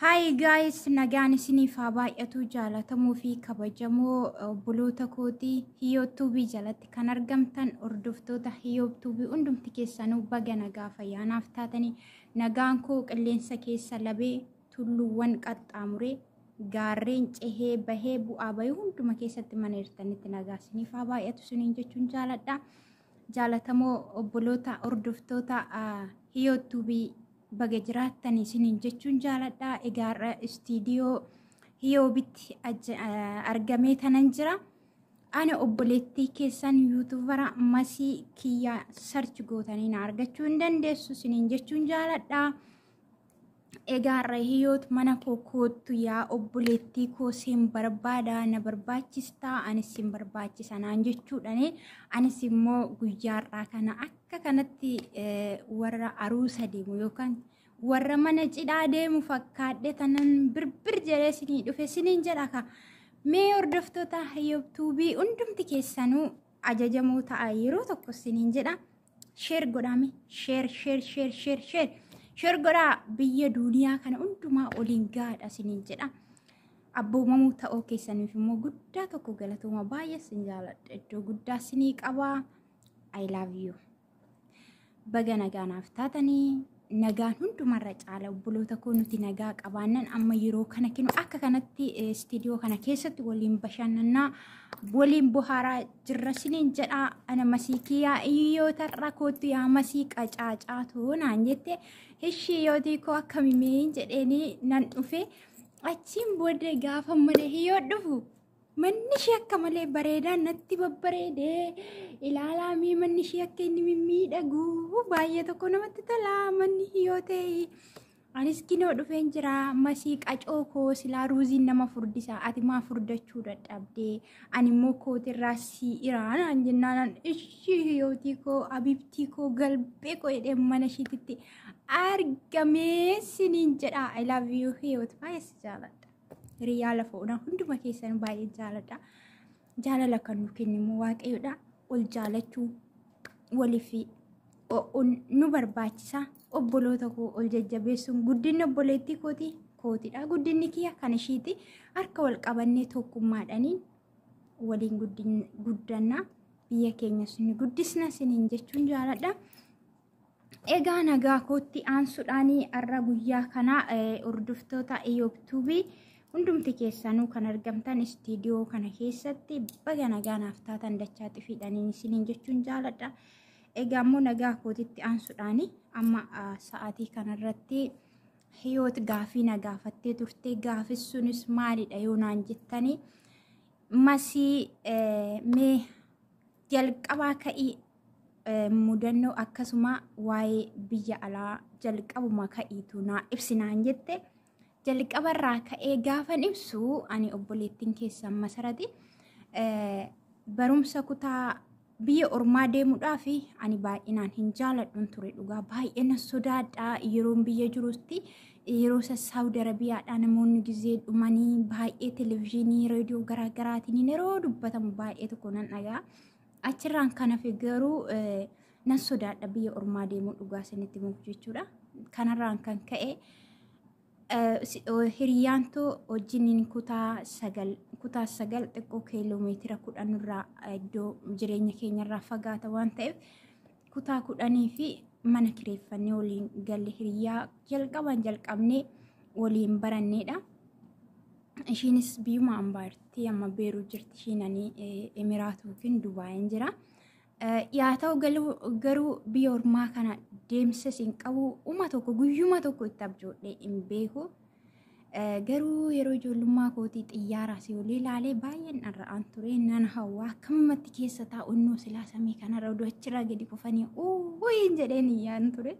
Hi guys, nagaan isiniif haa baay'atu jaalatamuu fi kabajamoo obboloota kooti Hiyoo Tuubii jalatti kan argamtan hordoftoota Hiyoo Tuubii hundumti keessanuu baga nagaa fayyaanaaf taatanii nagaan koo qilleensa keessa labee tulluuwwan qaxxaamuree gaarreen cehee bahee bu'aa bahee hunduma keessatti mana hirtanitti nagaa isiniif haa baay'atu isiniin jechuun jaaladha. jaalatamoo obboloota hordoftoota hiyoot tuubii baga jiraattan isiniin jechuun jaaladha egaa har'a istiidiyoo hiyoobitti argamee tanan jira ana obboleettii keessan yuutubara masii kiyya sarchi gootanii na argachuu hin dandeessu isiniin jechuun jaaladha Egaa Rahiyoot mana koo koottu yaa obboleettii koo siin barbaada na barbaachista anis siin barbaachisa naan jechuudhaan anis immoo guyyaarraa kana akka kanatti eh, warra aruusa deemu yookaan warra mana cidhaa deemu fakkaadhe tanan birbir jedhee sinii dhufe siniin jedha ka mee hordoftoota Rahiyoot tuubii hundumti keessanuu ajajamoo ta'a yeroo tokko siniin jedha Sheer godhaame. Sheer, sheer, sheer, sheer, sheer. Sheer godhaa biyya duuniyaa kana hundumaa oliin gaadha siniin jedha. Abboomamuu ta'uu keessaniif immoo guddaa tokko galatooma baay'ee sin jaaladha. Iddoo guddaa sinii qabaa. I love you. Baga nagaa naaf taatanii. Nagaan hundumarra caala obboloota koo nuti nagaa qabaannan amma yeroo kana kinu akka kanatti istiidiyoo kana keessatti waliin bashannannaa waliin bohaaraa jirra siniin jedhaa ana masii kiyyaa iyyoo tarra koottu yaa masii qacaacaa too naan jette ishii yootii koo akkamimee jedheenii nan dhufe achiin booda gaafa mana hiyyoo dhufu Manni ishee akka malee bareedaa natti babbareedee ilaalaa mee manni ishee akka inni mimmiidhagu baay'ee tokko namatti tola manni yoo ta'e anis kinoo dhufeen jira masii qacoo koo silaa ruuziin nama furdisa ati maa furdachuu dadhabdee ani immoo kootirraa sii iraanaan jennaanan ishii hiyootii koo abibtii koo galbee koo jedhee mana ishiititti argamee siniin jedha I love you hiyoot baay'ee si jaaladha. Hiriyaa lafa onaa hunduma keessan baay'ee jaaladha. Jaalala kan nu kennimu waaqayyoodha. Ol jaalachuu waliif nu barbaachisa. Obboloota koo ol jajjabeessuun guddinni obboleettii kooti kootidha. Guddinni kiyya kan ishiiti. Harka wal qabannee tokkummaadhaaniin waliin guddanna. Biyya keenyas ni guddisna siniin jechuun jaaladha. Egaa nagaa kootti aansuudhaan har'a guyyaa kana hordoftoota Iyootuubii hundumti keessanuu kan argamtan istiidiyoo kana keessatti baga nagaa naaf taatan dachaa xifiidhaniin isiniin jechuun jaaladha. Egaa immoo nagaa kootitti aansuudhaan amma sa'aatii kanarratti hiyoot gaafii na gaafattee turte gaafis sunis maalidha yoo naan jettanii masii mee jalqabaa ka'ii eh, mudannoo akkasuma waa'ee biyya alaa jalqabuma ka'iitu naa ibsinaan jette jalqabarraa ka'ee gaafan ibsu ani obboleettiin keessan masarati eh, barumsa kutaa biyya ormaa deemuudhaaf ani baay'inaan hin jaaladhun ture dhugaa baay'ee nan sodaadha yeroon biyya jirutti Yeroo isa Saawudi Arabiyaadhaa namoonni gizee dhumanii baay'ee televizyiinii reediyoo garaa garaatiin yeroo dubbatamu baay'ee tokko nan dhagaa. Achirraan kan hafe garuu nan sodaadha biyya ormaa deemuu dhugaa isinitti muuf jechuudha. Kanarraan kan ka'e hiriyaan too wajjiniin kutaa sagal kutaa sagal xiqqoo kiiloomeetira kudhan irraa iddoo jireenya keenyarraa fagaata waan ta'eef kutaa kudhanii fi mana kireeffannee waliin galle hiriyaa jalqabaan jalqabnee waliin baranneedha. Ishiinis biyyuma ambaa jirti amma beeruu jirti ishiin ani Emiraat yookiin Dubaayin jira. Yaa ta'u garuu biyya ormaa kana deemsas hin qabu uma tokko guyyuma tokko itti abjoodhee hin beeku. Garuu yeroo ijoollummaa kootii xiyyaara asii olii ilaalee baay'een dharra'aan ture nan hawwa akkamumatti keessa taa'u innoo silaa samii kanarra oduu achirraa gadi kufanii uuyiin jedheen iyyaan ture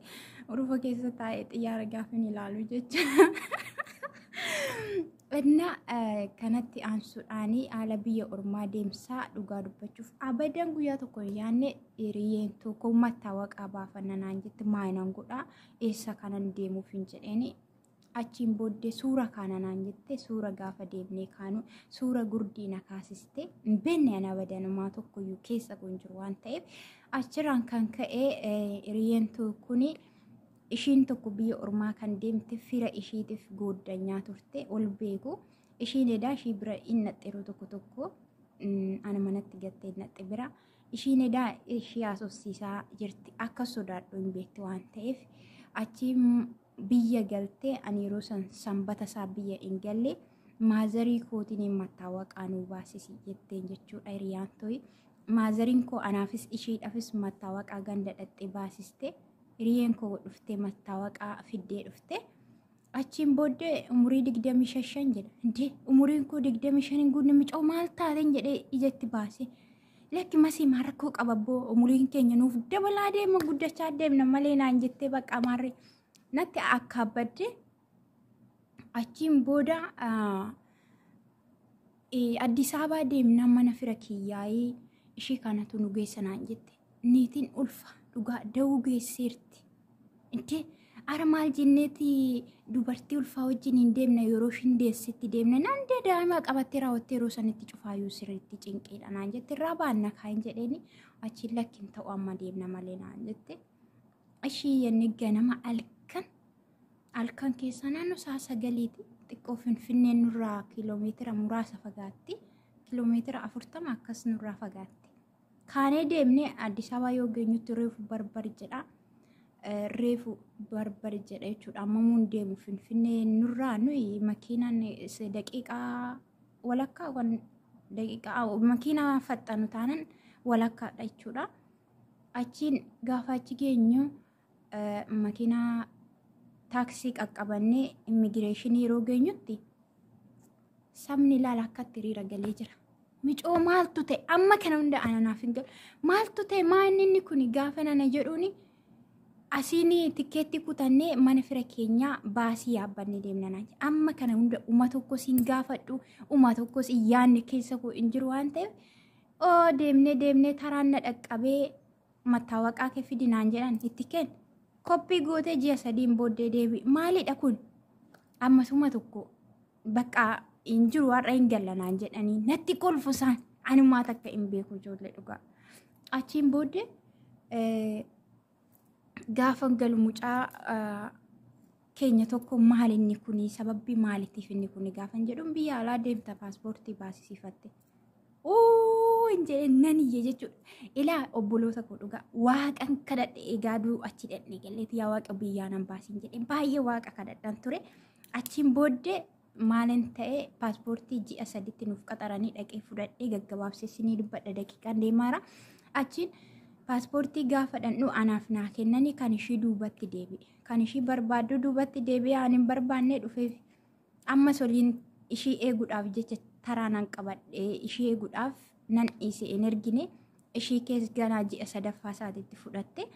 urufa keessa taa'ee xiyyaara gaafin ilaalu jecha. Innaa kanatti aansuudhaan haala biyya ormaa deemsaa dhugaa dubbachuuf abadan guyyaa tokko hin yaadne hiriyyeen tokko mattaawa qabaa fannanaan jetti maayinan godhaa eessa kanan deemuuf hin jedheeni Achiin booddee suura kaana naan jette suura gaafa deemnee kaanu suura gurdii na kaasiste hin beekne ana badanumaa tokkoyyuu keessa kun jiru waan ta'eef achirraan kan ka'e hiriyeentu kuni ishiin tokko biyya ormaa kan deemte fira ishiitiif gooddanyaa turte ol beeku ishiin edaa ishii bira hin naxxeruu tokko tokko ana manatti gattee naxxe bira ishiin edaa ishii haasofsiisaa jirti akka sodaadhu hin beekti waan ta'eef achi biyya galte ani yeroo san sanbata isaa biyya hin galle maazarii kootiin mattaawaqaa nuu baasisi jetteen jechuudha hiriyaan toyi. Maazariin koo anaafis ishiidhaafis mattaawaqaa ganda dhaqxee baasiste hiriyeen koo dhuftee mattaawaqaa fiddee dhufte. Achiin booddee umurii digdamii shan jedha. Indee umuriin koo digdamii shan hin guunne mucaa maal taateen jedhee ijatti baase. Lakki masii maa rakkoo qaba abboo umuriin keenya nuuf dabalaa deema guddachaa deemna malee naan jettee bakka maarree natti akka abbadde achiin booda ah, eh, Addis Ababaa deemnaan mana fira kiyyaa'ee ishee kanatu nu geessa naan jette niitiin ulfa dhugaa da'uu geesseerti. Itti ara maal jenneeti dubartii ulfaa wajjin hin deemne yeroo ishiin deessetti deemne naan dee daa'ima qabattee raawwattee yeroo sanitti cufaayuu sirriitti cinqiidha naan jette irraa baanna kaa'in jedheeni achiin lakkin ta'u amma deemna malee naan jette. Ishii jenne ganama halkan halkan keessa naannoo sa'a sagaliiti xiqqoo finfinnee nurraa kiiloomeetira muraasa fagaatti kiiloomeetira afurtama akkas nurraa fagaatti. Kaanee deemnee Addis Ababaa yoo geenyutti reefu barbar jedha. Eh, Reefu barbar jedha jechuudha. Ammamuun deemu Finfinnee nurraa nuyi makiinaan is- daqiiqaa walakkaa kan daqiiqaa awo, makiinaa faxxanu taanan walakkaadha jechuudha. Achiin gaafa achi geenyu makiinaa taaksii qaqqabannee immigireeshinii yeroo geenyutti sabni ilaala akkatti hiriira galee jira. Micoo maaltu ta'e amma kana hunda ananaaf hin galu. Maaltu ta'e maanni inni kun gaafa nana jedhuuni asiin tikkeetti kutannee mana fira keenyaa baasii yaabbannee deemna naan jedhe. Amma kana hunda uma tokkos hin gaafadhu uma tokkos hin yaadne keessa koo hin jiru waan ta'eef oo deemnee deemnee taraan na dhaqqabee mattaawaqaa kee fidi naan jedhan itti keen koppii gootee ji'a sadiin booddee deebi maalidha kun ammasuma tokko bakka hin jiru har'a hin galla naan jedhanii natti kolfu isaan anumaa takka hin beeku ijoollee dhugaa achiin booddee eh, gaafa galu mucaa ah, keenya tokko maal inni kuni sababbi maalitiif inni kuni gaafan jedhuun biyya alaa deemta paaspoortii baasisiifatte. Uu hin jedheen nan iyye jechuudha. Ilaa obboloota koo dhugaa waaqan kadhadhe egaa duu achi dhaqne galleeti yaa waaqa biyyaa nan baasiin jedhe baay'ee waaqa kadhadhan ture. Achiin booddee Maalin ta'e paaspoortii ji'a saditti nuuf qaxaranii dhaqee fudhadhee gaggabaabsee sinii dubbadha daqiiqaan deemaara. Achiin paaspoortii gaafa dhandhu anaaf naa kennanii kan ishii duubatti deebi'e. Kan ishii barbaaddu duubatti deebi'e aan hin barbaannee dhufeef ammas waliin ishii eeguudhaaf jecha taraa nan qabadhee ishii eeguudhaaf nan dhiise hin ergine ishii kees ganaa ji'a sadaffaa isaatitti fudhatte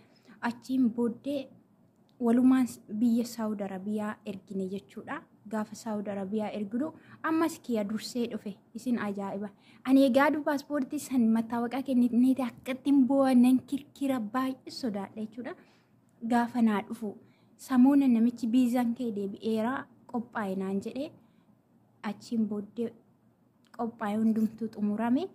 achiin booddee walumaan biyya Saawud Arabiyaa ergine jechuudha. Gaafa Saawud Arabiyaa erginu ammas kiya dursee dhufe isin ajaa'iba. Ani egaa du paaspoortii san mattaawaqaa kennitneeti akkattiin boo'a nan kirkira baay'ee sodaadha jechuudha. Gaafa naa dhufu samuuna namichi biizaan kee deebi'eera qophaa'e naan jedhee achiin booddee qophaa'e hundumtuu xumurame.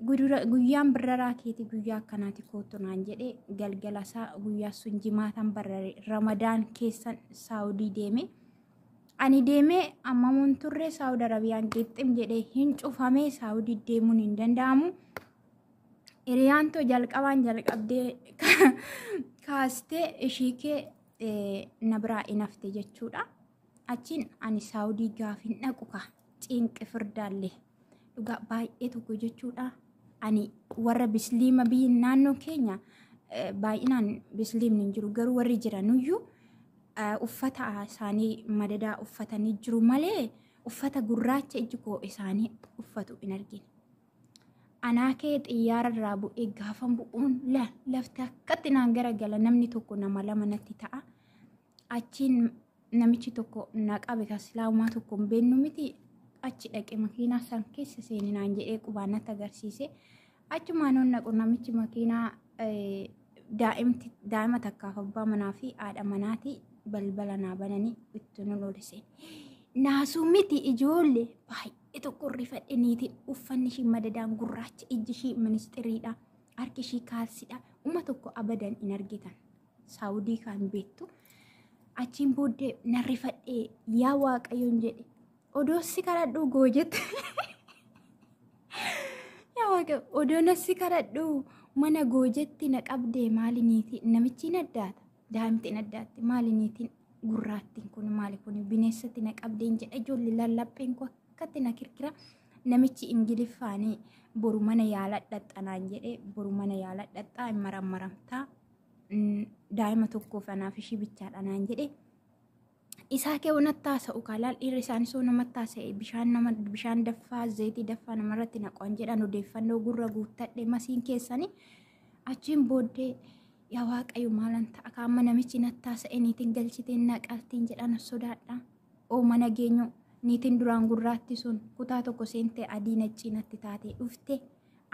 Gudura- Guyyaan barraraa keeti guyyaa akkanaati kootu naan jedhe galgala isaa guyyaa sun jimaataan barrare ramadaan keessan saawudii deeme. Ani deemee ammamuun turre saawud arabiyaan qixxim jedhee hin cufamee saawudii deemuun hin danda'amu. Hiriyaan too jalqabaan jalqabdee kaastee ishii kee eh, na biraa hin hafte jechuudha. Achiin ani saawudii gaaf hin dhaqu kaa. ciinqi firdaallee dhugaa baay'ee tokko jechuudha ani warra bisliima biyyi naannoo keenya eh, baay'inaan bisliimni hin jiru garuu warri jiranuyyuu eh, uffata isaanii madadaa uffatanii jiru malee uffata gurraacha iji koo isaanii uffatu hin argine. Anaa kee xiyyaara irraa bu'ee gaafan bu'uun la lafti akkatti naan garagala namni tokko nama lama natti ta'a. Achiin namichi tokko na qabe kan silaa umaa tokko hin beennu miti achi dhaqe makiinaa san keessa seeni naan jedhee qubaa natti agarsiise. Achumaan hoon naqu namichi makiinaa daa'imti daa'ima takkaaf abbaa manaa fi haadha manaati balbala naa bananii itti nu lolise. Naasuu miti ijoollee baay'ee tokko rifadhe niitiin uffanni ishii madadaan gurraacha ijji ishii ministiriidha harki ishii kaalsidha uma tokko abadan hin argitan Saawudii kaan beektu. Achiin booddee nan rifadhee yaa waaqayyoon jedhe. Odoo si kadhadhuu goo jette. Yaa waaqayyo odoo na si kadhadhuu mana goo jette na qabdee maali niitii namichiin addaata. Daa'imtiin addaatti maali niitiin gurraattiin kun maali kun bineensatti na qabdeen jedha ijoollee lallapheen koo akkatti na kirkira. Namichi ingiliffaanii boru mana yaala dhaxxanaan jedhee boru mana yaala dhaxxaa hin marammaramtaa. daa'ima tokkoof anaaf ishii bichaadha naan jedhe. Isaa kee wanatti haasa'u kaalaal dhiirri isaanii soo namatti haasa'e bishaan nama bishaan daffaa zayitii daffaa namarratti naqoon jedhan odeeffannoo gurra guuttadhe masiin keessanii achiin booddee yaa waaqayyo maalan ta'a akka amma namichi natti haasa'e niitiin galchiteen naqaltiin jedhan sodaadha. Oo mana geenyu niitiin duraan gurraatti sun kutaa tokko seentee adii naccii natti taatee dhufte.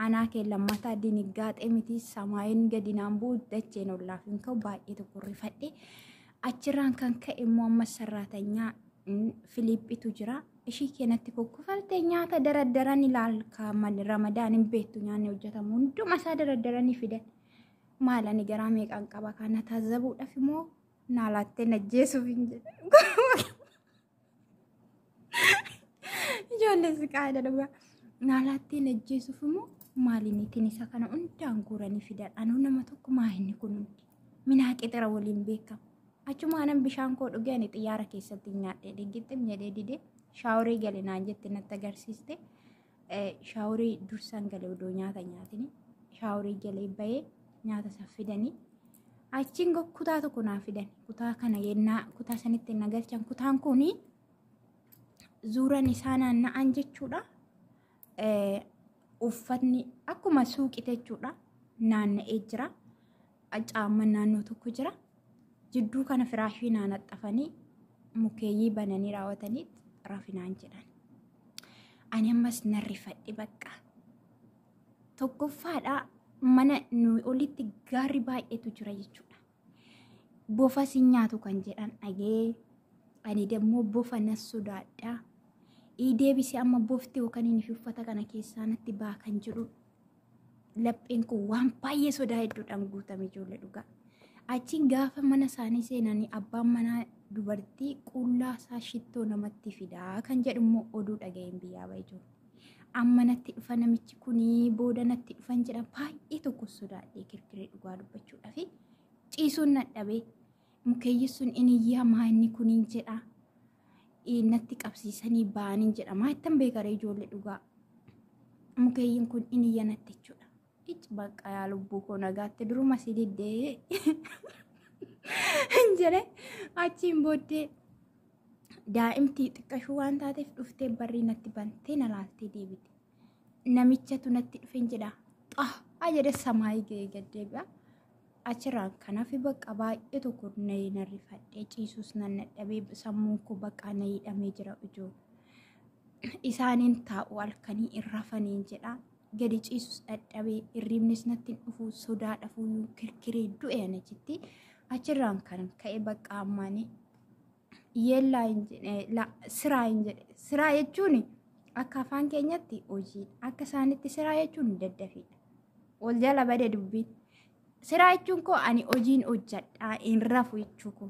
Anaa kee lammataa diniggaaxee miti samaayin gadi naan bu'u dacheen ollaaf hin ka'u baay'ee tokko rifadhe. Achirraan kan ka'e immoo amma sarraatanyaa Filiiphitu jira. Ishii keenatti kukkufalte nyaata daraddaran ilaalka ramadaan hin beektu nyaanni hojjetamu hunduma isaa daraddaranii fidan. Maal ani garaa meeqaan qaba kana taazzabuudhaaf immoo naa laattee najjeesuuf hin jedhu. Ijoollee siqaadha dhugaa. Naalaattiin ajjeesuuf immoo maaliin ittiin isa kana hundaan guuranii fidan. Anuu nama tokko maayinni kun hundi. Minaa qixira waliin beekamu. Achuma anan bishaan koo dhugee ani xiyyaara keessatti nyaadhee dhiggitti jedhee didee shaaworii galinaan jette natti agarsiiste. Shaaworii dursaan galee odoo nyaata nyaatini. Shaaworii galee bahee nyaata isaa fidanii. Achiin go- kutaa tokko naa fidan. Kutaa kana yennaa kutaa sanitti na galchan. Kutaan kuni zuuran isaa naanna'an jechuudha. Eh, Uffatni akkuma suuqite jechuudha naanna'ee jira. Caamman naannoo tokko jira. Jidduu kana firaashii naanaxxafanii mukeeyyii bananii raawwatanii rafinaan jedhan. Ani ammas nan rifadhe bakka. Tokkoffaadhaa mana nuyi olitti gaarri baay'eetu jira jechuudha. Bofa si nyaatu kan jedhan dhagee ani dammoo bofa nan sodaadha. Ii deebisee amma bofti yookaan inni fi uffata kana keessaa natti baa kan jedhu lapheen koo waan baay'ee sodaa hedduudhaan guutame ijoollee dhugaa. Achiin gaafa mana isaanii seenanii abbaan manaa dubartii qullaa isaa shittoo namatti fidaa kan jedhu immoo oduu dhaga'een biyyaa ba'e jiru. Amma natti dhufa namichi kunii booda natti dhufan jedhan baay'ee tokko sodaadhee kirkiree dhugaa dubbachuudhaaf ciisuun nadhabee Mukeeyyi sun in iyyaa maa inni kuniin jedha. Ii, Natti qabsiisanii ba'aniin jedha. Maa ittan beekaree ijoollee dhugaa. Mukeeyyiin kun in iyya natti jechuudha. Ic bakka yaa lubbuu koo nagaatte duruma si diddee. Hin jedhe achiin booddee daa'imti xiqqashuu waan taateef dhuftee barrii natti bantee na laaltee deebite. Namichatu natti dhufe hin jedha. Xah! Haa jedhe samaayii ga'ee gad deebi'a. Achirraan kan hafe baqqa baay'ee tokko nayee nan rifadhe ciisuus nan dadhabee sammuun koo baqaa na hidhamee jira ujuu. Isaaniin taa'u halkanii hin rafaniin jedha. Gadi ciisus dadhabee hirriibnis natti hin dhufu sodaa dhafuuyyuu kirkiree du'e ana jetti. Achirraan kan ka'e baqqa ammaanii yeellaa hin jedhe la siraa hin jedhe siraa jechuun akka afaan keenyatti hojii akka isaanitti siraa jechuun daddafiidha wal jala bade dubbiin siraa jechuun koo ani hojiin hojjadhaa hin rafu jechuu koo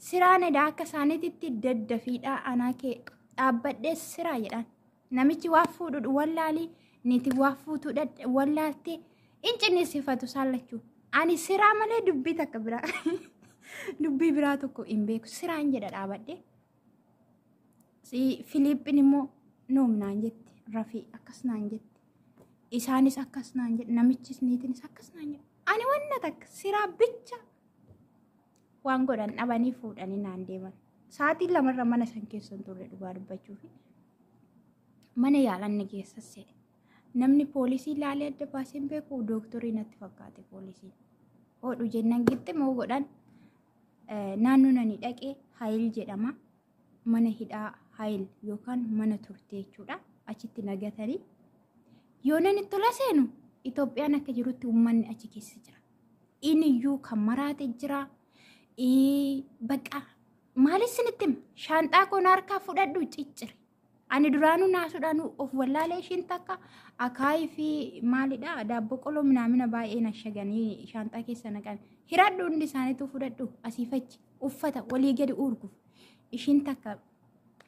siraan edaa akka isaanitti daddafiidha anaa kee dhaabbadhee siraa jedhaan Namichi waa fuudhu wallaali niitiin waa fuutu wallaalti in cinniisifatu isaan lachuu. Ani siraa malee dubbii takka biraa dubbii biraa tokko hin beeku siraan jedha dhaabadhe. Filiippiin immoo noom naan jetti rafii akkas naan jetti. Isaanis akkas naan jedhu namichis niitinis akkas naan jedhu. Ani wanna takka siraa bicha waan godhan dhabanii fuudhanii naan deeman. Sa'aatiin lamarra mana san keessa hin turre dhugaa dubbachuuf. Mana yaalan na geessa se'e. Namni poolisii ilaalee adda baasee hin beeku dooktorii natti fakkaate poolisiin. Oodhu jennaan gixximoo godhan naannoo nani dhaqee Hayil jedhama. Mana hidhaa Hayil yookaan mana turtee jechuudha. Achitti nagatanii. Yoo nani tola seenu Itoophiyaan akka jirutti uummanni achi keessa jira. Iniyyuu kan maraate jira. Bakka maaliif sinitti hima? Shaanxaa koo na harkaa fudhadhu ciccire. Ani duraanuu naasuudhaan of wallaalee ishiin takka akaayii fi maalidha daabboo qoloo minaamina baay'ee nashaganii shaanxaa keessa naqan. Hiradhu hundi isaaniitu fudhadhu asii fachi uffata walii gadi uurguuf. Ishiin takka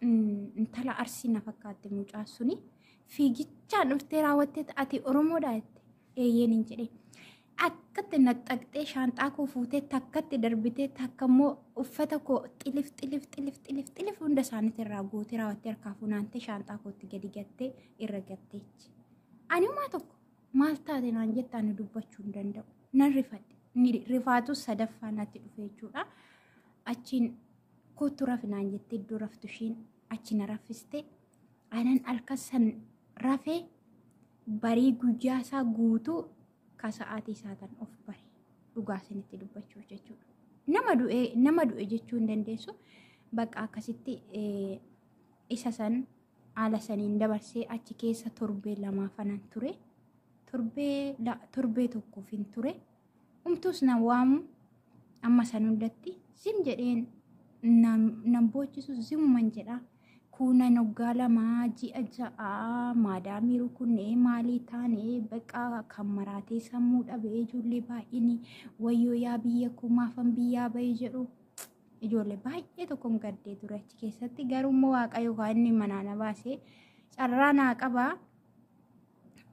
intala arsii na fakkaatti mucaa suni fiigichaan dhuftee raawwattee ati Oromoodha jette eeyyeen hin jedhee. akkatti naxxaqxee shaanxaa koo fuutee takkatti darbitee takka immoo uffata koo xilif xilif xilif xilif xilif hunda isaaniitti irraa guutee raawwattee harkaa funaantee shaanxaa kootti gadi gattee irra gatteechi. Ani umaa tokko maal taate naan jettaa ani dubbachuu hin danda'u. Nan rifadhe. Ni rifaatu sadaffaa natti dhufe jechuudha. Achiin kottu rafi naan jettee iddoo raftu ishiin achi na raffiste. Anan halkan san rafee barii guyyaa isaa guutuu ka sa'aatii saatan of bare dhugaa isinitti dubbachuuf jechuudha. Nama du'e nama du'e jechuu hin dandeessu bakka akkasitti eh, isa san haala saniin dabarsee achi keessa torbee lamaa fanan ture torbee la- torbee tokkoof hin ture umtuus na waamu amma san hundatti zim jedheen nan nan boochisu zimuman jedha Kuunan waggaa lama ji'a ja'a maadaamii rukunnee maalii taane baqa kan maraatee sammuu dhabe ijoollee baay'een wayyoo yaa biyya koo maafan biyyaa bahe jedhu ijoollee baay'ee tokkon gaddee ture achi keessatti garuu immoo waaqayyo kaa inni manaa na baase carraa naa qaba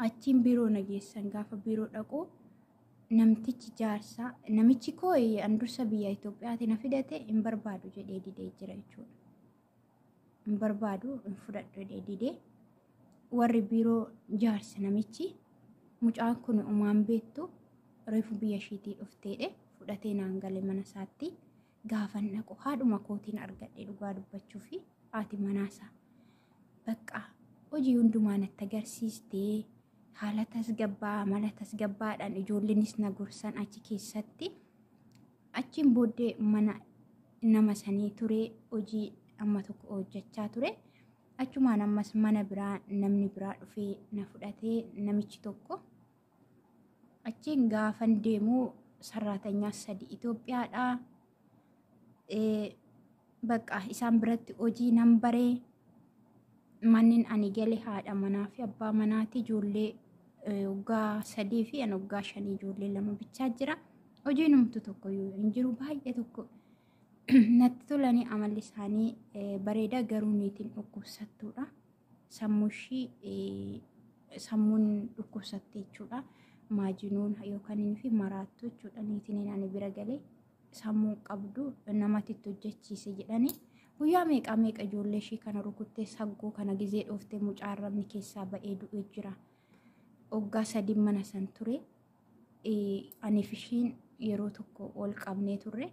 achiin biiroo na geessan gaafa biiroo dhaqu namtichi jaarsaa namichi koo eh, an dursa biyya Itoophiyaati na fidate hin barbaadu jedhee didee jira jechuudha. Hin barbaadu hin fudhadhu jedhee didee warri biiroo jaarsa namichi mucaan kun umaan beektu reefu biyya ishiitii dhufteedhe fudhatee naan gale mana isaatti gaafan dhaqu haadhuma kootiin argadhe dhugaa dubbachuu fi haati manaasaa bakka hojii hundumaa natti agarsiistee haala tasgabbaa amala tasgabbaadhaan ijoollenis na gorsan achi keessatti achiin booddee mana nama sanii ture hojii amma tokko hojjechaa ture achumaan ammas mana biraa namni biraa dhufee na fudhatee namichi tokko Achiin gaafan deemu sarraatanyaa sadi Itoophiyaadha. Bakka isaan biratti hojii nan bare. Mannin ani gale haadha manaa fi abbaa manaati ijoollee waggaa sadii fi an waggaa shanii ijoollee lama bichaa jira. Hojii numtu tokko yoo hin jiru baay'ee tokko natti tolanii amalli isaanii bareeda garuu niitiin dhukkubsattuudha. sammushii sammuun dhukkubsatte jechuudha. Maajinuun yookaan inni fi maraattu jechuudha niitiin ani bira galee sammuu qabdu namatti itti hojjechiise jedhani. Guyyaa meeqaa meeqa ijoollee ishii kana rukuttee saggoo kana gizee dhooftee mucaa arrabni keessaa ba'ee du'e jira. Oggaa sadii mana san ture. Aniif ishiin yeroo tokko ol qabnee turre.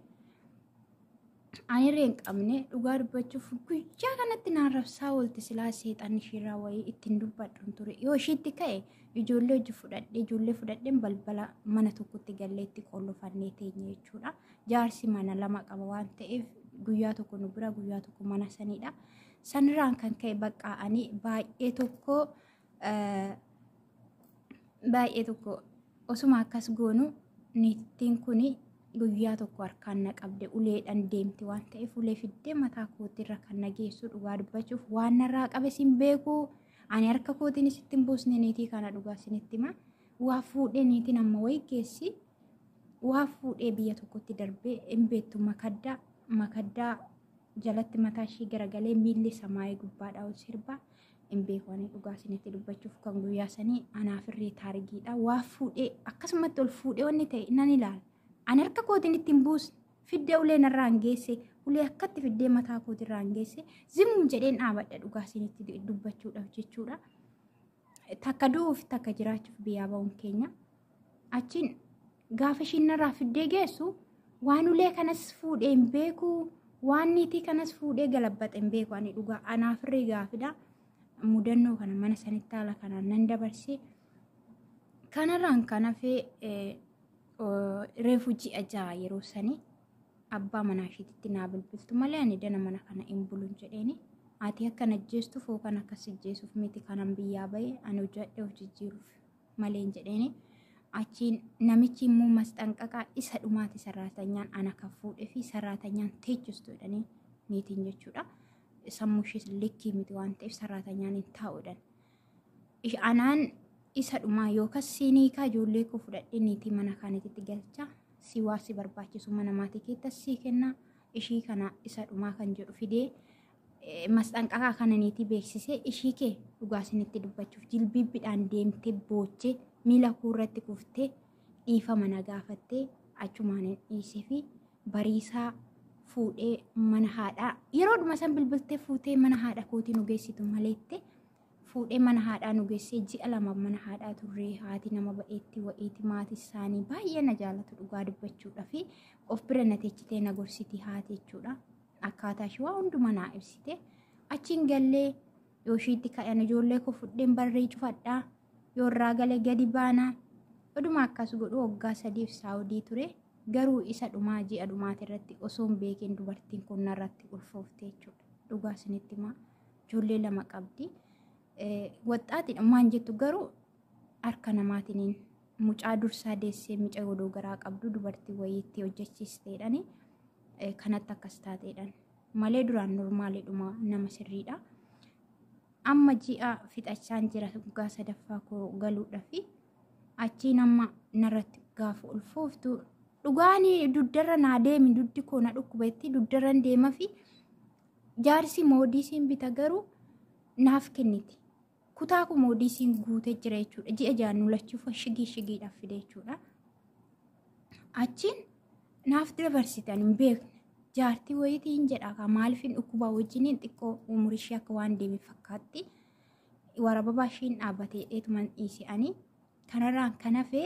Anirree hin qabne dhugaa dubbachuuf guyyaa kanatti naan rabsaa oolti silaa seexan ishiirraa wayii ittiin dubbadhan ture. Yoo ishiitti ka'e ijoollee hojii fudhadhee ijoollee fudhadheen balbala mana tokkotti galleetti qollofannee teenye jechuudha. Jaarsi mana lama qaba waan ta'eef guyyaa tokko nu bira guyyaa tokko mana sanidha. Sanirraan kan ka'e bakka ani baay'ee tokko baay'ee tokko osuma akkas goonu niittiin kun guyyaa tokko harkaan na qabde uleedhaan deemti waan ta'eef ulee fiddee mataa kootiirra kan na geessu dhugaa dubbachuuf waan narraa qabe sin beeku ani harka kootiin sitti hin buusne niitii kana dhugaa sinitti hima waa fuudhee niitiin amma wayi geessi waa fuudhee biyya tokkotti darbee hin beektu makaddaa makaddaa jalatti mataa ishii garagalee miilli samaayee gubbaadhaa ol sirbaa hin beeku ani dhugaa isinitti dubbachuuf kan guyyaa sanii anaaf irree taarigiidha waa fuudhee akkasumatti ol fuudhee wanni ta'e nan ilaala ani harka kootiin ittiin buusne fiddee ulee narraa hin geesse ulee akkatti fiddee mataa kootirraa hin geesse zimuun jedheen dhaabadha dhugaa isinitti dubbachuudhaaf jechuudha takka du'uuf takka jiraachuuf biyyaa ba'uun keenya achiin Gaafa ishiin narraa fiddee geessu waan ulee kanas fuudhee hin beeku waan niitii kanas fuudhee galabbaxe hin beeku ani dhugaa anaaf irree gaafidha. Mudannoo kana mana sanitti haala kanaan nan dabarse. Kanarraan kan hafe reefu ji'a ja'a yeroo sanii abbaa manaa ishiititti naa bilbiltu malee ani dana mana kana hin bulun jedheeni. Ati akkan ajjeestuuf yookaan akkas ajjeesuuf miti kanan biyyaa bahe ani hojjadhee of jijjiiruuf. maleen jedheeni achiin namichi immoo masxanqaqaa isa dhumaati sarraatanyaan ana kan fuudhee fi sarraatanyaan teechistu jedhanii niitiin jechuudha. Sammuu ishees likkii miti waan ta'eef sarraatanyaan hin taa'uudhaan. Ish- Anaan isa dhumaa yookas siinii kaa ijoollee koo fudhadhee niitii mana kaanitti galcha si waa si barbaachisu mana maatii keettas sii kenna ishii kana isa dhumaa kan jedhu fidee masxanqaqaa kana niitii beeksisee ishii kee dhugaa isinitti dubbachuuf jilbiibbidhaan deemtee boochee miila kuu irratti kuftee dhiifama na gaafattee achumaan hin dhiisee fi bariisaa fuudhee mana haadhaa yeroodhuma san bilbiltee fuutee mana haadha kootii nu geessitu maleette fuudhee mana haadhaa nu geessee ji'a lama mana haadhaa turree haati nama ba'eetti wa'iiti maati isaanii baay'ee na jaalatu dhugaa dubbachuudha fi of bira na teechitee na gorsiti haati jechuudha. Akkaataa ishii waa hundumaa naa ibsite. Achiin gallee yoo ishiitti kadhan ijoollee koo fudheen barree cufadhaa. Yoo irraa gale gadi baana. Oduma akkas godhu waggaa sadiif saawudii ture. Garuu isa dhumaa ji'a dhumaati irratti osoo hin beekin dubartiin kun narratti ulfoofte jechuudha. Dhugaa isinitti himaa. Ijoollee lama qabdi. Waxxaatiidha maan jettu garuu harka namaatiniin mucaa dursaa deessee mucaa godoo garaa qabdu dubartii wayiitti hojjechiisteedhani. kanatti akkas taateedhaan malee duraan normaaliidhuma nama sirriidha. Amma ji'a fixachaan jira waggaa sadaffaa koo galuudha fi achiin amma narratti gaafa ulfooftu dhugaan duddarra naa deemi duddi koo na dhukkubetti duddarran deema fi jaarsi moodiisiin bita garuu naaf kenniti. Kutaa koo moodiisiin guutee jira jechuudha. Ji'a jaan nu lachuu fashigii shigiidhaaf fide jechuudha. Achiin naaf dabarsitan hin beekne. Jaartii wayiitii hin jedha kaa maaliifin dhukkubaa wajjiniin xiqqoo umurii ishee akka waan deeme fakkaatti. Warababaa isheen dhaabbatee dheetuman dhiise ani. Kanarraan kan hafe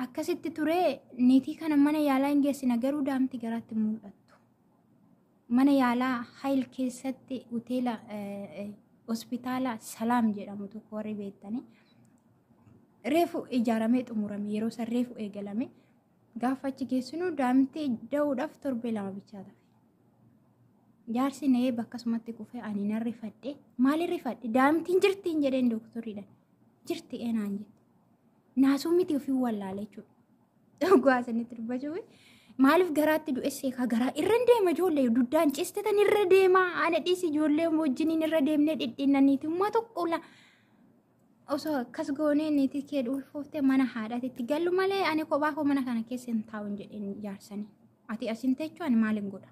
akkasitti ture niitii kana mana yaalaa hin geessina garuu daa'imti garaatti mul'attu. Mana yaalaa Hayil keessatti hoteela hospitaala Salaam jedhamu tokko warri beektanii reefu ijaaramee xumurame yeroo san reefu eegalame gaafa achi geessinu daa'imti da'uudhaaf torbee lama bichaa tafe. Jaarsi na eebba akkasumatti kufee ani nan rifadhe maali rifadhe daa'imtiin jirtiin jedheen dooktoriidhaan jirti eenaan jette naasuu miti ofii wallaale jechuudha. Dhugaa isinitti dubbachuu maaliif garaatti du'essee kaa garaa irra hin deema ijoollee duddaan cistetan irra deema ana dhiisi ijoollee wajjiniin irra deemnee dhidhiinnaniiti ummaa tokko la osoo akkas goonee niitii kee dhuulfooftee mana haadhaati itti gallu malee ani kophaa koo mana kana keessa hin taa'u hin jedheen jaarsanii ati asin teechuu ani maaliin godha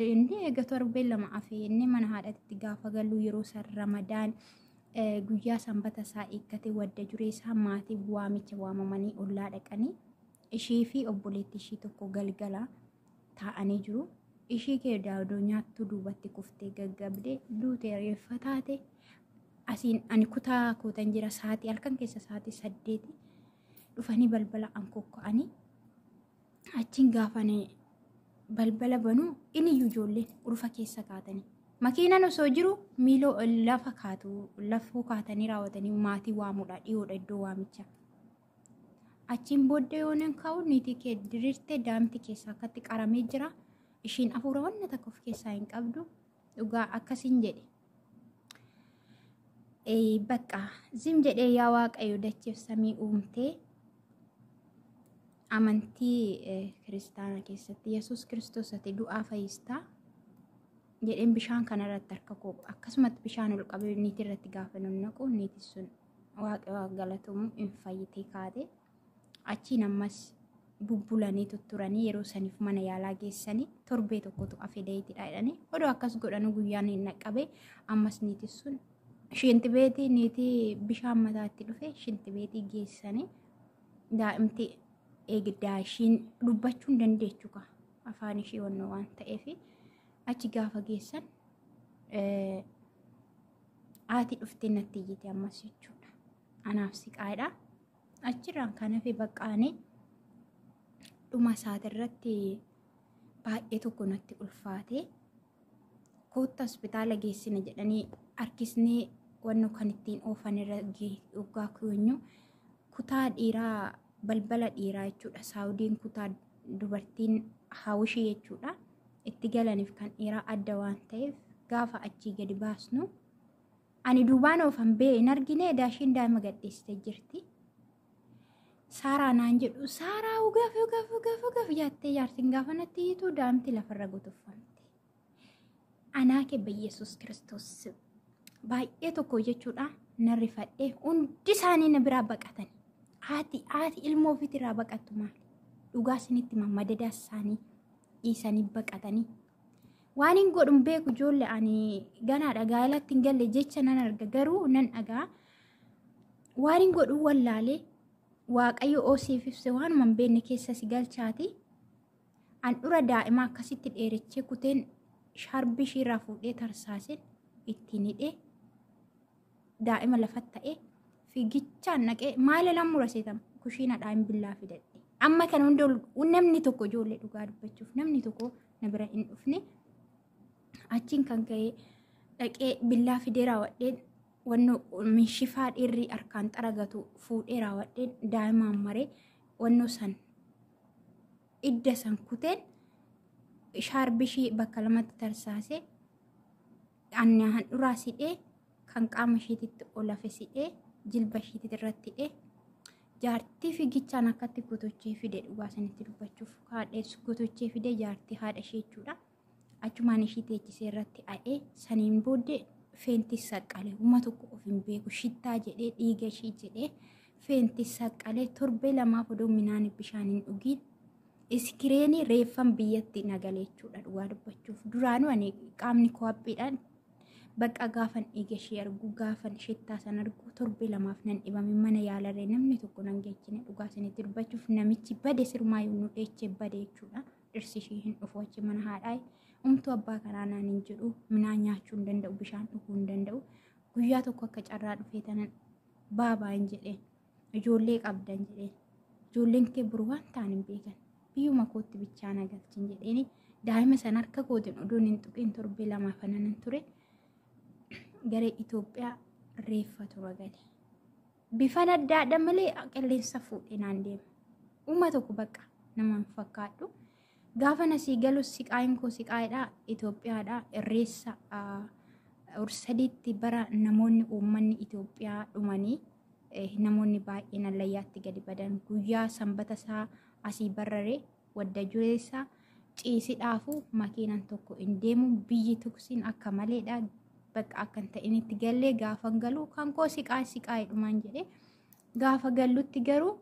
inni eega torbee lama afee inni mana haadhaatti gaafa gallu yeroo san ramadaan Guyyaa sanbata isaa eeggate wadda juree isaa maatii waamicha waamamanii ollaa dhaqanii ishii fi obboleetti ishii tokko galgala taa'anii jiru. Ishii kee daadoo nyaattuu duubatti kuftee gaggabdee duutee reeffa taate asiin ani kutaa kootan jira saatii halkan keessa saatii saddeeti dhufanii balbala an kokka'anii achiin gaafane balbala banuu iniyyuu ijoolleen ulfa keessa kaatanii makiinaan osoo jiru miiloo lafa kaatu lafoo kaatanii raawwatanii maatii waamuudha dhiyoodha iddoo waamicha achiin booddee yoonan ka'u niitii kee diriirtee daamti keessa akkatti qaramee jira ishiin afuura wanna takka of keessaa hin qabdu dhugaa akkasiin jedhe Ee, bakka zim jedhee yaa waaqayyo dachiif samii uumtee Amantii kiristaana keessatti Yesuus Kiristoos ati du'aa fayyistaa jedheen bishaan kanarratti harka koo akkasumatti bishaan ol qabee niitii irratti gaafa naqu niitiin sun waaqaa galatomu hin fayyitee kaate achiin ammas bubbulanii tutturanii yeroo saniif mana yaalaa geessanii torbee tokkotu afee dayitidha jedhanii odoo akkas godhanu guyyaan hin dhaqqabe ammas niitiin sun shinti beetii niitii bishaan mataatti dhufe shinti beetii geessanii daa'imti eegdaa ishiin dubbachuu hin dandeechu ka afaan ishii wannoo waan ta'eef achi gaafa geessan haati dhuftee natti iyyite ammas jechuudha. Anaaf siqaadha. Achirraan kan hafe baqqaane dhuma isaatirratti baay'ee tokko natti ulfaate kootta hospitaala geessina jedhanii harkisnee wanno kan ittiin oofan irra dhugaa keenyu kutaa dhiiraa balbala dhiiraa jechuudha. Saawudiin kutaa dubartiin hawishii jechuudha. Itti galaniif kan dhiiraa adda waan ta'eef gaafa achii gadi baasnu. Ani duubaan oofan bee hin argine daashiin daa'ima gadhiistee jirti. Saaraa naan jedhu saaraa ugaaf ugaaf ugaaf ugaaf jaattee jaartiin gaafa natti hiitu daa'imti lafarra gutuffamte. Anaa kee Yesuus Kiristoos baay'ee tokko jechuudha na rifadhe hundi isaanii na biraa baqatan. Haati haati ilmoo ofiitti irraa baqattu maali? Dhugaa isinitti mammadadaa isaanii dhiisanii baqatanii. Waan hin godhun beeku ijoollee ani ganaadha gaa'elatti hin galle jecha nan arga garuu nan dhagaa. Waan hin godhun wallaalee waaqayyo oosiif ibse waanuma hin beekne keessa si galchaati. Handhura daa'imaa akkasitti dheerechee kuteen shaarbii ishiirraa fuudhee tarsaaseen ittiin hidhee daa'ima lafatti ta'ee fiigichaan dhaqee maala nan mura seetama kushiinadhaa hin billaa fidadhe. Amma kan hunda namni tokko ijoollee dhugaa dubbachuuf namni tokko na bira hin dhufne achiin kan ka'e dhaqee billaa fidee raawwadheen wanno minshifaa dhiirri harkaan xaragatu fuudhee raawwadheen daa'imaan maree wanno san idda san kuteen shaarbishii bakka lamatti tarsaasee anna handhuraa sidhee kan qaama ishiititti ol hafe sidhee jilba ishiititti irratti hidhee jaartii fiigichaan akkatti gotochee fide dhugaa sanitti dubbachuuf haadhees gotochee fide jaartii haadha ishee jechuudha. achumaan ishii teechisee irratti a'ee saniin booddee feentis saqqale huma tokko of hin beeku shittaa jedhee dhiiga ishii jedhee feentis saqqale torbee lamaaf odoo minaan bishaan hin dhugiin iskireenii reeffan biyyatti nagale jechuudha dhugaa dubbachuuf duraanuu ani qaamni koo haphiidhaan bakka gaafan dhiiga ishii argu gaafan shittaa san argu torbee lamaaf nan dhibame mana yaalarree namni tokko nan geechine dhugaa isinitti dubbachuuf namichi bade sirmaa yommuu dheechee bade jechuudha. dhirsi ishii hin dhufu achi mana haadhaa umtuu abbaa kanaa naan hin jedhu minaa nyaachuu hin danda'u bishaan dhuguu hin danda'u guyyaa tokko akka carraa dhufee tanan baabaa hin jedheen ijoollee qabdan jedheen ijoolleen kee buru waan ta'an hin beekan biyyuma kootti bichaa na galchin jedheen daa'ima san harka kootiin oduun hin tuqiin torbee lamaa fananan ture gara Itoophiyaa reeffa tura gale. Bifan addaadha malee qilleensa fuudhee naan deema. Uuma tokko bakka namaan fakkaadhu. Gaafa nasii galu siqaayin koo siqaayidha. Itoophiyaadha. Irreessa ursadiitti bara namoonni uummanni Itoophiyaa dhumanii namoonni baay'een allayyaatti gadi badan guyyaa sanbata isaa asii barraree Wadda jureessaa ciisidhaafu makiinan tokko hin deemu biyyi tuksiin akka maleedha bakka akka hin ta'initti gallee gaafan galuu kan koo siqaay siqaay dhumaan jedhee gaafa gallutti garuu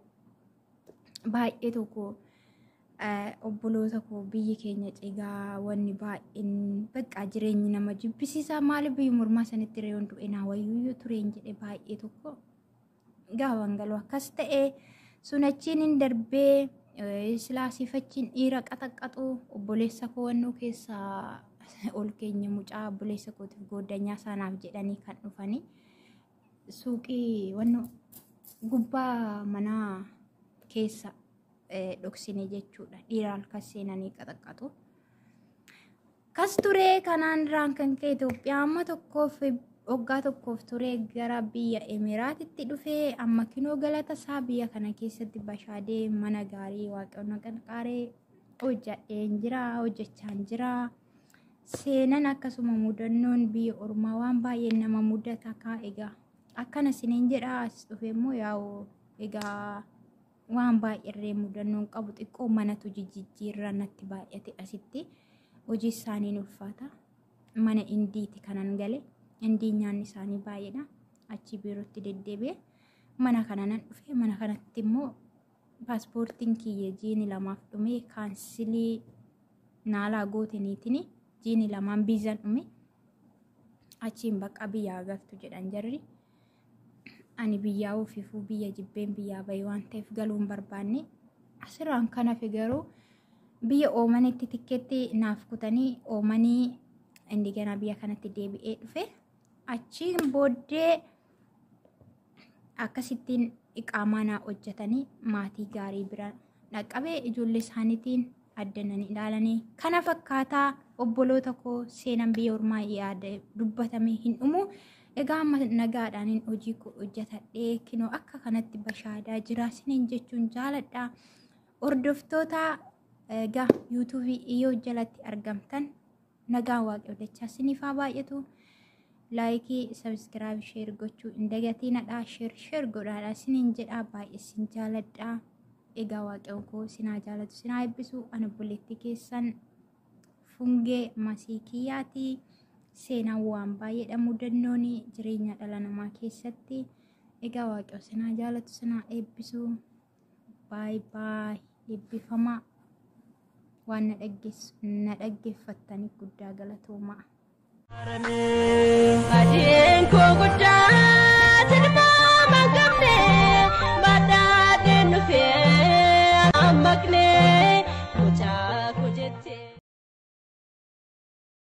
baay'ee tokko obboloota koo biyyi keenya cigaa wanni baay'een bakka jireenyi nama jibbisiisaa maali biyyi mormaa sanitti reeyoon du'e naa wayyuu tureen jedhe baay'ee tokko Gaafan galu akkas ta'e sun achiin hin darbee silaa sifachiin dhiira qaxaqqaxu obboleessa koo wannuu keessaa ol keenya mucaa obboleessa kootiif gooddanyaa isaanaaf jedhanii kan dhufanii suuqii wannuu gubbaa manaa keessa dhoksine jechuudha dhiira halkan seenanii qaxaqqaxu. Kas ture kanaan irraan kan ka'e Itoophiyaa amma tokkoof waggaa tokkoof ture gara biyya Emiraatitti dhufe amma kinoo galata isaa biyya kana keessatti bashaadee mana gaarii waaqayyoon qarqaaree hojjadheen jira hojjechaan jira. Seenan akkasuma mudannoon biyya ormaa waan baay'een nama mudata kaa egaa akkana isiniin jedha as dhufe immoo yaa'u egaa waan baay'erree mudannoon qabu xiqqoo manatu jijjiirraa natti baay'ate asitti hojii isaaniin ulfaata mana indiiti kanan gale indii nyaanni isaanii baay'eedha achi biirootti deddeebi'e mana kana nan dhufe mana kanatti immoo paaspoortiin kiyya jiini lamaaf dhume kaansilii naalaa gooteniitiin jiini lamaan biizan dhume achiin bakka biyyaa galtu jedhan jarri ani biyyaa ofiifuu biyya jibbeen biyyaa bahee waan ta'eef galuu hin barbaanne asirraan kan hafe garuu biyya oomanitti tikkeetti naaf kutanii oomanii indiganaa biyya kanatti deebi'ee dhufe achiin booddee akkasittiin iqaamaa naa hojjetanii maatii gaarii bira dhaqqabee ijoollee isaaniitiin adda nan ilaalanii kana fakkaataa obboloota koo seenan biyya ormaa yaada dubbatame hin dhumu egaa amma nagaadhaanin hojii koo hojjetadhee kinoo akka kanatti bashaadaa jira sinin jechuun jaaladha hordoftoota egaa yuutuubii yoo jalatti argamtan Nagaan waaqayyoo dachaa siniif haa baay'atu. Laayikii, sabiskiraayib, sheer gochuu hin dagatiinadha. Sheer sheer godhaadha siniin jedhaa baay'ee sin jaaladha. Egaa waaqayyoon koo sinaa jaalatu sinaa eebbisu an obboleetti keessan fungee masii kiyyaati. Seenaan waan baay'eedha mudannooni jireenya dhala namaa keessatti. Egaa waaqayyoo sinaa jaalatu sinaa eebbisu. baay baay eebbifamaa waan na dhaggeess- na dhaggeeffattaniif guddaa galatoomaa. Adiin koo guddaa tilmaama qabne badhaadhee nufee ammaqne mucaa koo jettee.